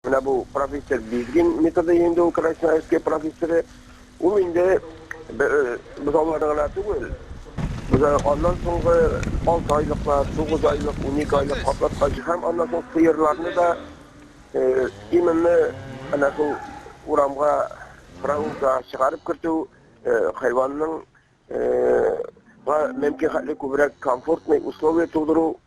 Менә бу профессор Бизгин методы инде ул Красноярская профессоры. Ул инде бер бозауларны гына түгел, бозау аннан соңгы алты айлыклар, тугыз айлык, унике айлык катлаткач һәм аннан соң сыерларны да именно әнә шул урамга, прогулка чыгарып кертү, хайванның га мөмкин хәтле күбрәк комфортный условия тудыру,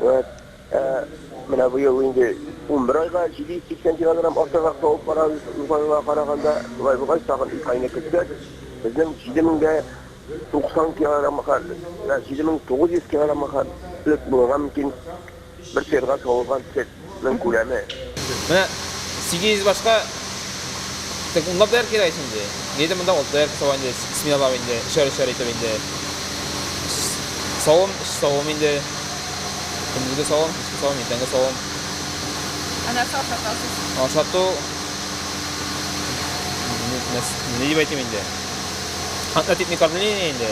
Вәт, ә менә бу ел инде унбер айга 780 килограмм артыграк табып барабыз, узган елга караганда. Шулай булгач, тагын ике айны көтсәк, безнең 7090 килограммга хәл, ә 7900 килограммга хәтлек булырга мөмкин бер сыерга савылган сөт. Ның күләме. Менә 800 башка так унлап даяр кирәк инде. Нидә монда ул даяр савы инде сменалау инде, шәр-шәр итеп инде. Савым, савым инде. Көндезге савым, савым, иртәнге савым. Ана сау сатасыз. Ана сату. Не дип әйтим инде. Хатна типник кормление инде.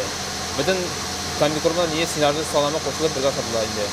Бөтен комбикормлар не синарны саламы кушылып бергә сатыла инде.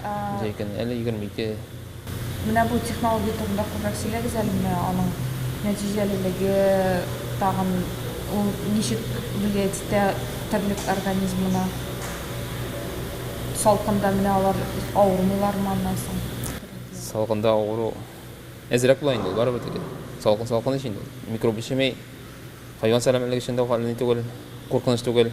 Ничә икән, әле егерме ике. Менә бу технология турында күбрәк сөйләгез әле, менә аның нәтиҗәлелеге, тагын ул ничек влиять итә терлек организмына? Салкында менә алар авырмыйлармы аннан соң? Салкында авыру әзрәк була инде ул, барыбер тик. Салкын салкын ич инде ул. Микроб эчеми, хайван сәламәтлеге өчен дә хәлле түгел, куркыныч түгел.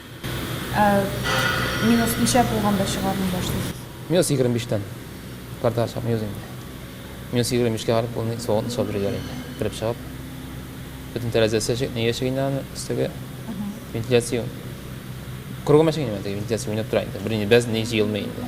Ә минус ничә булганда чыгармый башлыйсыз? Минус егерме биштән партага чыкмый үзе инде. Минус егерме бишкә барып ул ни суган сугып бирәләр инде. Кереп чыгып. Бөтен тәрәзәсе чек, нигә чек инде аны өстәге вентиляция. Кругом ачык инде менә теге вентиляция уйнап тора инде. Берни без ни җыелмый инде.